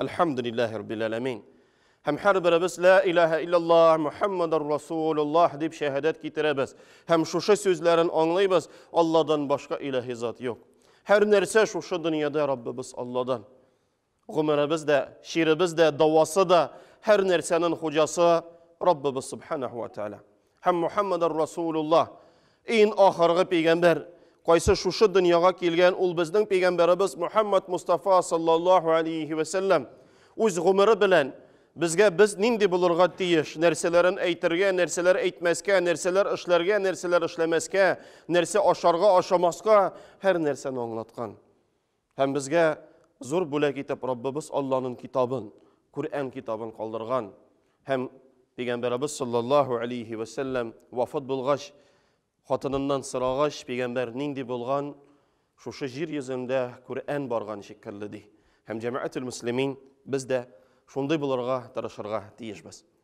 Әлхәмдүлилләһи раббил әләмин. Һәм һәрберебез ла илаһа иллаллаһ Мухаммадар Расулуллаһ дип шәһадәт китерәбез. Һәм шушы сүзләрен аңлыйбыз, Алладан башка илаһи зат юк. Һәр нәрсә шушы дөньяда Раббыбыз Алладан. Гомеребез дә, чиребез дә, дәвасы да, һәр нәрсәнең хуҗасы Раббыбыз Субханаху ва Тааля. һәм Мухаммадар Расулулла, ин ахыргы пәйгамбәр, кайсы шушы дөньяга килгән ул безнең пәйгамбәребез Мухаммад Мустафа саллаллаху алейхи ва саллям үз гомере белән безгә без нинди булырга тиеш, нәрсәләрен әйтергә, нәрсәләр әйтмәскә, нәрсәләр эшләргә, нәрсәләр эшләмәскә, нәрсә ашарга, ашамаска, һәр нәрсәне аңлаткан. Һәм безгә зур бүләк итеп Раббыбыз Алланың китабын, Күрән китабын калдырган. Һәм Пәйгамбәрабыз саллаллаһу алейһи вә сәлләм вафат булгач, хатыныннан сорагач, Пәйгамбәр нинди булган? Шушы җир йөзендә Күрән барган шикелле ди. Һәм җәмәгател мөслимин без дә шундый булырга тырышырга тиешбез.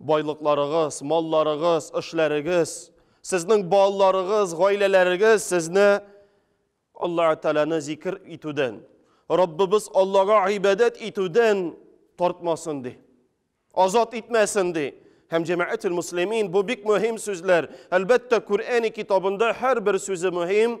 Байлыкларыгыз, малларыгыз, эшләрегез, сезнең балаларыгыз, гаиләләрегез сезне Аллаһ Тәгаләне зикр итүдән, Раббыбыз Аллага гыйбадәт итүдән тартмасын ди. Азат итмәсен ди. Һәм җәмәгател муслимин бу бик мөһим сүзләр. Әлбәттә, Куръәни китабында һәрбер сүзе мөһим.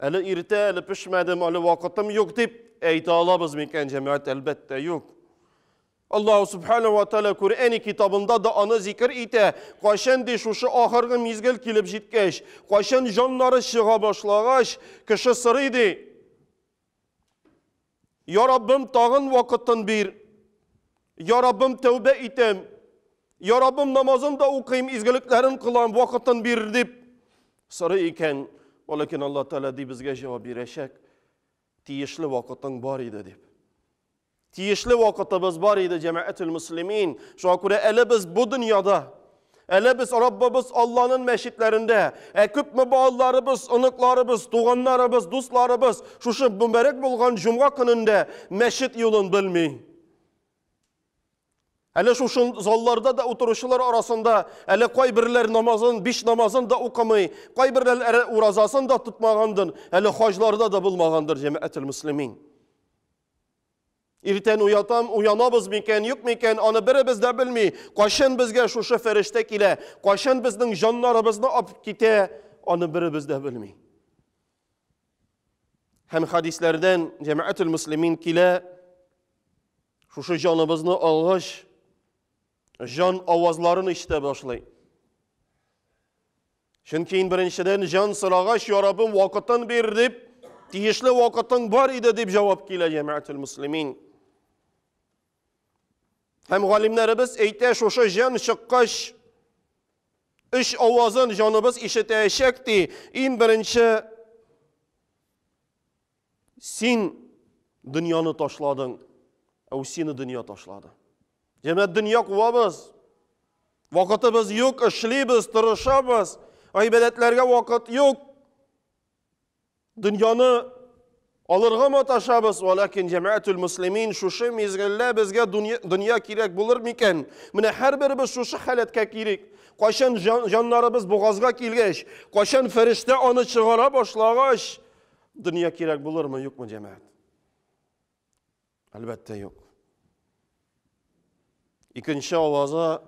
Әле иртә, әле пешмәдем, әле вакытым юк дип әйтә алабыз микән, җәмәгать? Әлбәттә, юк. Аллаһу субхана ва тәала Коръәни китабында да аны зикер итә. Кайчан ди шушы ахыргы мизгел килеп җиткәч, кайчан җаннары чыга башлагач, кеше сорый ди. Я Раббым, тагын вакытын бир. Я Раббым, тәүбә итәм. Я Раббым, намазын да укыйм, изгелекләрен кылам, вакытын бир дип сорый икән. Валәкин Алла Тәгалә ди безгә җавап бирәчәк. Тиешле вакытың бар иде дип. Тиешле вакытыбыз бар иде, җәмәгател-мөслимин. Шуңа күрә әле без бу дөньяда, әле без Раббыбыз Алланың мәчетләрендә, ә күпме балаларыбыз, оныкларыбыз, туганнарыбыз, дусларыбыз шушы мөбарәк булган җомга көнендә мәчет юлын белми. Әле шушы залларда да утыручылар арасында әле кайберләр намазын, биш намазын да укымый, кайберләр уразасын да тотмагандыр, әле хаҗларда да булмагандыр, җәмәгател-мөслимин. Иртән уятам, уянабыз микән, юк микән, аны беребез дә белми. Кайчан безгә шушы фәрештә килә, кайчан безнең җаннарыбызны алып китә, аны беребез дә белми. Һәм хадисләрдән җәмәгатьул муслимин килә, шушы җаныбызны алгач, җан авазларын ишетә башлый. Чөнки ин беренчедән җан сорагач, я Раббым, вакытын бир дип, тиешле вакытың бар иде дип җавап килә җәмәгател муслимин. Һәм галимнәребез әйтә, шушы җан чыккач, үч авазын җаныбыз ишетәчәк ди. Ин беренче Син дөньяны ташладың, ә сине дөнья ташлады. Җәмәт дөнья куабыз. Вакытыбыз юк, эшлибез, тырышабыз. Гыйбадәтләргә вакыт юк. Дөньяны алырга маташабыз, валәкин җәмәәтүл муслимин шушы мизгеллә безгә дөнья кирәк булыр микән? Менә һәрберебез шушы халәткә кирик. Кайчан җаннарыбыз бугазга килгәч, кайчан фәрештә аны чыгара башлагач, Дөнья кирәк булырмы, юкмы, җәмәгать? Әлбәттә, юк. Икенче аваза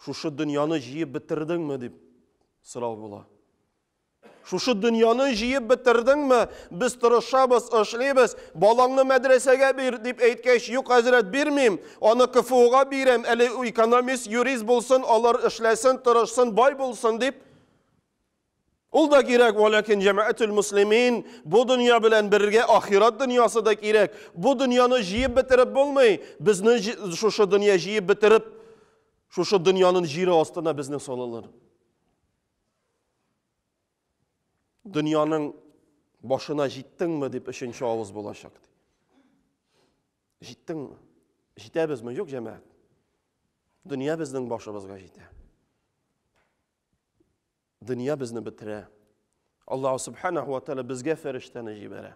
шушы дөньяны җыеп бетердеңме дип сорау була. Шушы дөньяны җыеп бетердеңме? Без тырышабыз, эшлибез. Балаңны мәдрәсәгә бир дип әйткәч, юк, хәзрәт, бирмим. Аны КФУга бирәм, әле экономист, юрист булсын, алар эшләсен, тырышсын, бай булсын дип Ул да кирәк, вәләкин җәмәәтул муслимин, бу дөнья белән бергә ахират дөньясы да кирәк. Бу дөньяны җыеп бетереп булмый. Безне шушы дөнья җыеп бетереп, шушы дөньянын җире астына безне салалар. Дөньяның башына җиттеңме дип өченче авыз булачак. Җиттеңме? Җитәбезме? Юк, җәмәәт. Дөнья безнең башыбызга җитә. дөнья безне бетерә. Аллаһ Субханаху ва Тәгалә безгә фәрештәне җибәрә.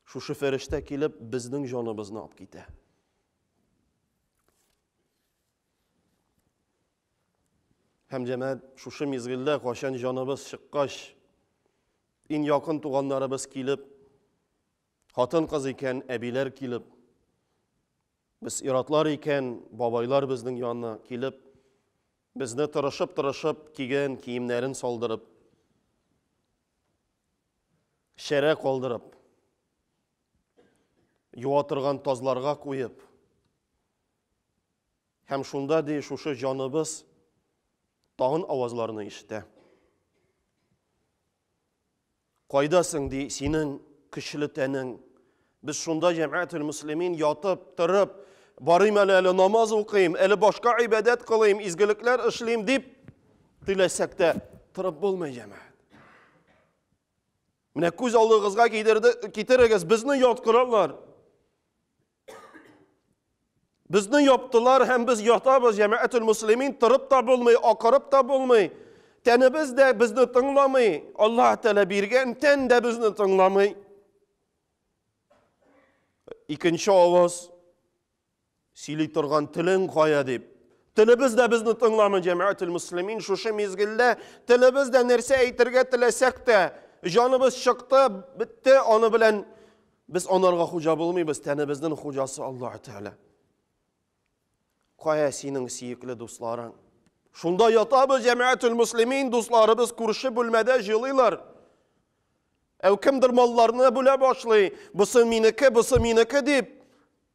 Шушы фәрештә килеп, безнең җаныбызны алып китә. Һәм җәмәгать шушы мизгелдә качан җаныбыз чыккач, иң якын туганнарыбыз килеп, хатын-кыз икән, әбиләр килеп, Без ир-атлар икән, бабайлар безнең янына килеп, безне тырышып-тырышып кигән киемнәрен салдырып, шәрә калдырып, юа торган тазларга куеп, һәм шунда ди шушы җаныбыз тагын авазларны ишетә. Кайда соң, ди, синең көчле тәнең? Без шунда, җәмәгател-мөслимин, ятып, торып, барыйм әле, әле намаз укыйм, әле башка гыйбадәт кылыйм, изгелекләр эшлим, дип теләсәк тә, торып булмый, җәмәгать. Менә күз алдыгызга китерегез, безне яткыралар. Безне яптылар һәм без ятабыз, җәмәәтул муслимин, торып та булмый, акырып та булмый. Тәнебез дә безне тыңламый, Аллаһ Тәгалә биргән тән дә безне тыңламый. Икенче аваз сөйли торган телең кая дип. Телебез дә безне тыңламый, җәмәәтул муслимин, шушы мизгелдә телебез дә нәрсә әйтергә теләсәк тә, җаныбыз чыкты, бетте, аны белән Без анарга хуҗа булмыйбыз, тәнебезнең хуҗасы Аллаһ Тәгалә. Кая синең сөекле дусларың? Шунда ятабыз, җәмәгатул муслимин, дусларыбыз күрше бүлмәдә җылыйлар. Әү кемдер малларны бүлә башлый, бусы минеке, бусы минеке дип.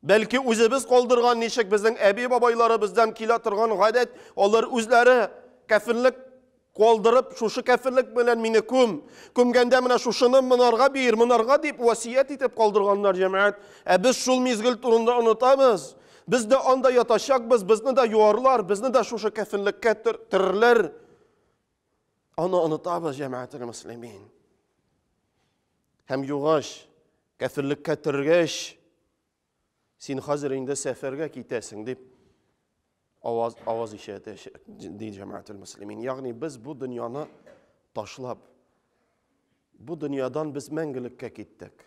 Бәлки үзебез калдырган ничек безнең әби-бабайларыбыздан килә торган гадәт, алар үзләре кәфенлек калдырып, шушы кәфенлек белән мине күм, күмгәндә менә шушыны монарга бир, монарга дип васият итеп калдырганнар җәмәгать. Ә без шул мизгел турында онытабыз. Без дә анда ятачакбыз, безне дә юарлар, безне дә шушы кәфенлеккә төрерләр. Аны онытабыз җәмәгател муслимин. Һәм югач Кәфирлеккә төргәч, син хәзер инде сәфәргә китәсең, дип аваз, аваз ишәтә, ди җәмәгател мөслимин. Ягъни без бу дөньяны ташлап, бу дөньядан без мәңгелеккә киттек.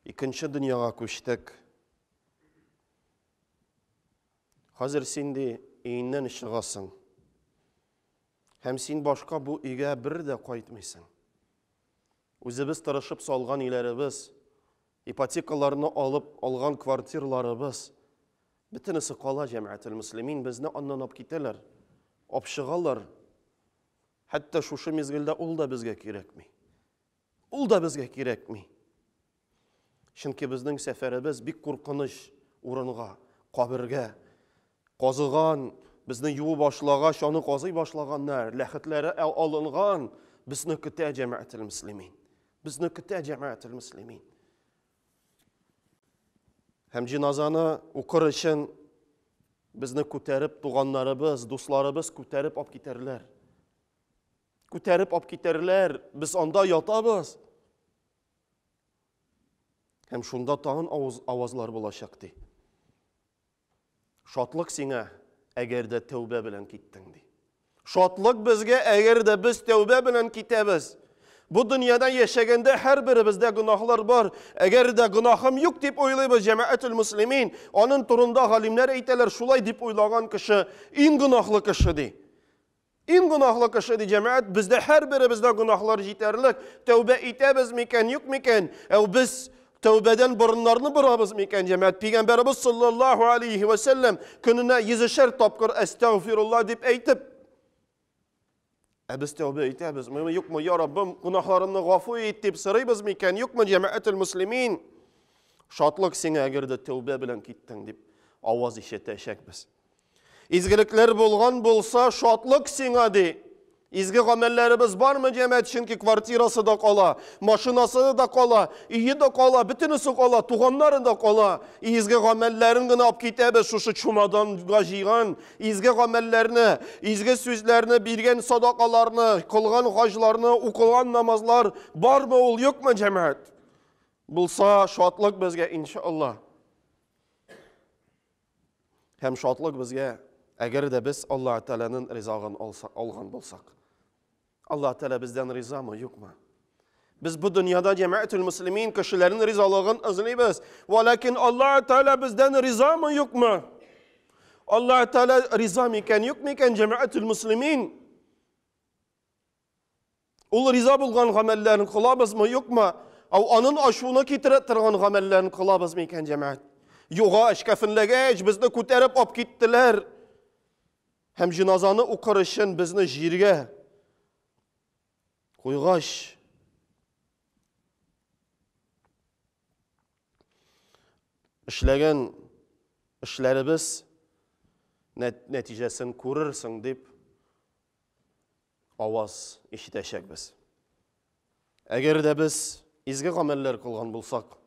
Икенче дөньяга күчтек. Хәзер син ди өйеннән чыгасың. Һәм син башка бу өйгә бер дә кайтмыйсың. Үзебез тырышып салган өйләребез, ипотекаларны алып алган квартирларыбыз, бөтенесе кала, җәмәгател-мөслимин, безне аннан алып китәләр, апшыгалар. Хәтта шушы мизгелдә ул да безгә кирәкми. Ул да безгә кирәкми. Чөнки безнең сәфәребез бик куркыныч урынга, кабергә. Казыган, безне юу башлагач, аны казый башлаганнар, ләхетләре алынган, безне көтә җәмәгател мөслимин. Безне көтә җәмәгател мөслимин. Һәм җиназаны укыр өчен безне күтәреп туганнарыбыз, дусларыбыз күтәреп алып китәрләр. Күтәреп алып китәрләр, без анда ятабыз. Һәм шунда тагын авыз, авазлар булачак, ди. Шатлык сиңа, әгәр дә тәүбә белән киттең, ди. Шатлык безгә, әгәр дә без тәүбә белән китәбез. Бу дөньяда яшәгәндә һәрберебездә гөнаһлар бар. Әгәр дә гөнаһым юк дип уйлыйбыз җәмәәтул муслимин, аның турында галимнәр әйтәләр, шулай дип уйлаган кеше иң гөнаһлы кеше ди. Иң гөнаһлы кеше, ди җәмәгать, бездә һәрберебездә гөнаһлар җитәрлек. Тәүбә итәбез микән, юк микән? Әү без тәүбәдән борыннарны борабыз микән, җәмәгать? Пигамбәребез саллаллаһу алейһи вә сәлләм көненә йөзешәр тапкыр әстәгъфирулла дип әйтеп, Ә без тәүбә итәбезме, юкмы, я Раббым, гөнаһларымны гафу ит дип сорыйбыз микән, юкмы, җәмәгател муслимин? Шатлык сиңа, әгәр дә тәүбә белән киттең, дип аваз ишетәчәкбез. Изгелекләр булган булса, шатлык сиңа, ди. Изге гамәлләребез бармы, җәмәт, чөнки квартирасы да кала, машинасы да кала, өе дә кала, бөтенесе кала, туганнары да кала. Изге гамәлләрен генә алып китәбез, шушы чумаданга җыйган изге гамәлләрне, изге сүзләрне, биргән садакаларны, кылган хаҗларны, укылган намазлар бармы ул, юкмы, җәмәт? Булса, шатлык безгә, иншалла. Һәм шатлык безгә, әгәр дә без Аллаһ Тәгаләнең ризагын алган булсак. Аллаһ Тәгалә бездән ризамы, юкмы? Без бу дөньяда җәмәгатьтул муслимин кешеләрнең ризалыгын эзлибез. Валакин Аллаһ Тәгалә бездән ризамы, юкмы? Аллаһ Тәгалә риза микән, юк микән җәмәгатьтул муслимин? Ул риза булган гамәлләрен кылабызмы, юкмы? Ау анын ачуына китерә торган гамәлләрен кылабызмы икән, җәмәгать? Югач, кәфенләгәч, безне күтәреп алып киттеләр. Һәм җиназаны укыр өчен безне җиргә куйгач, эшләгән эшләребез нәтиҗәсен күрерсең дип аваз ишетәчәкбез. Әгәр дә без изге гамәлләр кылган булсак,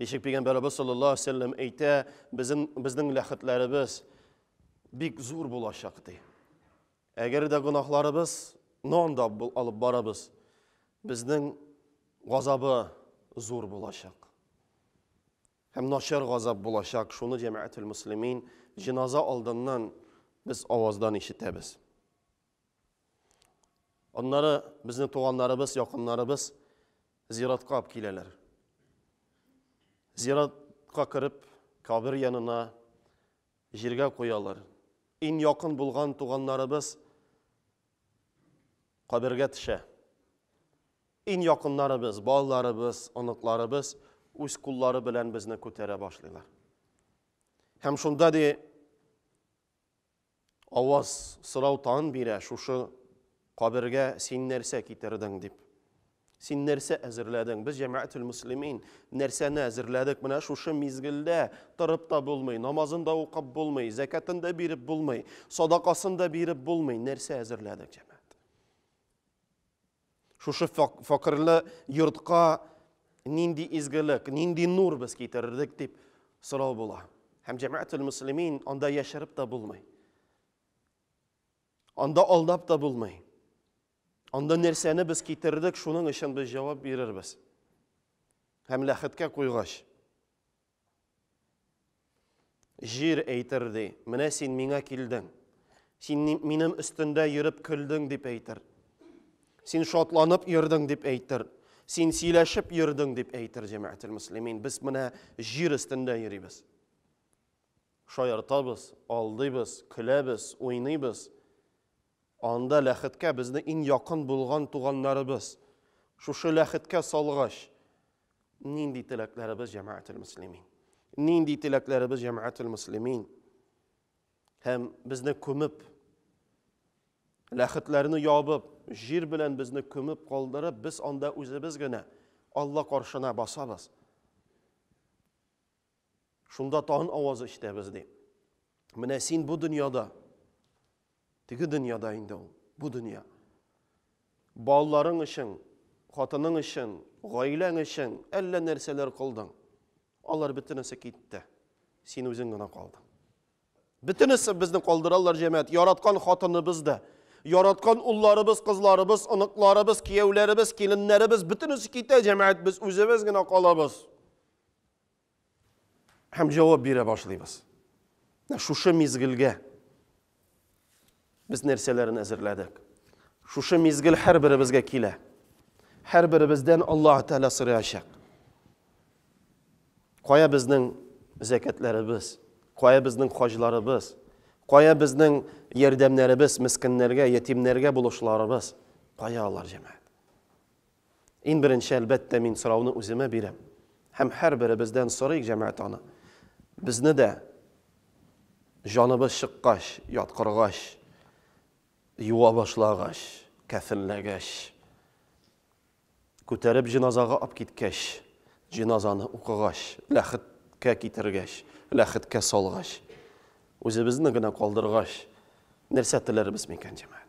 ничек Пәйгамбәребез саллаллаһу алейһи ва сәлләм әйтә, безнең, безнең ләхетләребез бик зур булачак, ди. Әгәр дә гөнаһларыбыз нонда алып барабыз, безнең газабы зур булачак. Һәм начар газап булачак, шуны җәмәгател-мөслимин, җеназа алдыннан без аваздан ишетәбез. Аннары безнең туганнарыбыз, якыннарыбыз зиратка алып киләләр. Зиратка кереп, кабер янына җиргә куялар. Иң якын булган туганнарыбыз Кабергә төшә. Ин якыннарыбыз, балаларыбыз, оныкларыбыз үз куллары белән безне күтәрә башлыйлар. Һәм шунда ди аваз сорау тан бирә, шушы кабергә син нәрсә китердең дип. Син нәрсә әзерләдең? Без җәмәгател муслимин нәрсәне әзерләдек? Менә шушы мизгелдә торып та булмый, намазын да укып булмый, зәкатын да биреп булмый, садакасын да биреп булмый. Нәрсә әзерләдек, җәмәгать? Шушы факырлы йортка нинди изгелек, нинди нур без китердек дип сорау була. Һәм җәмәгател муслимин анда яшереп тә булмый. Анда алдап та булмый. Анда нәрсәне без китердек, шуның өчен без җавап бирербез. Һәм ләхеткә куйгач, җир әйтер ди, менә син миңа килдең. Син минем өстендә йөреп көлдең дип әйтер. Син шатланып йөрдең дип әйтер. Син сөйләшеп йөрдең дип әйтер җәмәгател муслимин. Без менә җир өстендә йөрибез. Шаяртабыз, алдыйбыз, көләбез, уйныйбыз. Анда ләхеткә безне иң якын булган туганнарыбыз, шушы ләхеткә салгач, нинди теләкләребез, җәмәгател-мөслимин? Нинди теләкләребез, җәмәгател-мөслимин? Һәм безне күмеп, ләхетләрне ябып, җир белән безне күмеп калдырып, без анда үзебез генә Алла каршына басабыз. Шунда тагын аваз ишетәбез, ди. Менә син бу дөньяда, теге дөньяда инде ул, бу дөнья. Балаларың өчен, хатының өчен, гаиләң өчен әллә нәрсәләр кылдың. Алар бөтенесе китте. Син үзең генә калдың. Бөтенесе безне калдыралар, җәмәгать. Яраткан хатыныбыз да, яраткан улларыбыз, кызларыбыз, оныкларыбыз, кияүләребез, киленнәребез бөтенесе китә, җәмәгать, без үзебез генә калабыз. Һәм җавап бирә башлыйбыз. Шушы мизгелгә без нәрсәләрен әзерләдек? Шушы мизгел һәрберебезгә килә. Һәрберебездән Аллаһ Тәгалә сораячак. Кая безнең зәкәтләребез? Кая безнең хаҗларыбыз? Кая безнең ярдәмнәребез мискиннәргә, ятимнәргә булышларыбыз? Кая алар, җәмәгать? Иң беренче, әлбәттә, мин сорауны үземә бирәм һәм һәрберебездән сорыйк, җәмәгать аны, безне дә җаныбыз чыккач, яткыргач, юа башлагач, кәфенләгәч, күтәреп җеназага ап киткәч, җеназаны укыгач, ләхет кә китергәч, ләхеткә салгач, үзебезне генә калдыргач, нәрсә теләрбез микән, җәмәгать?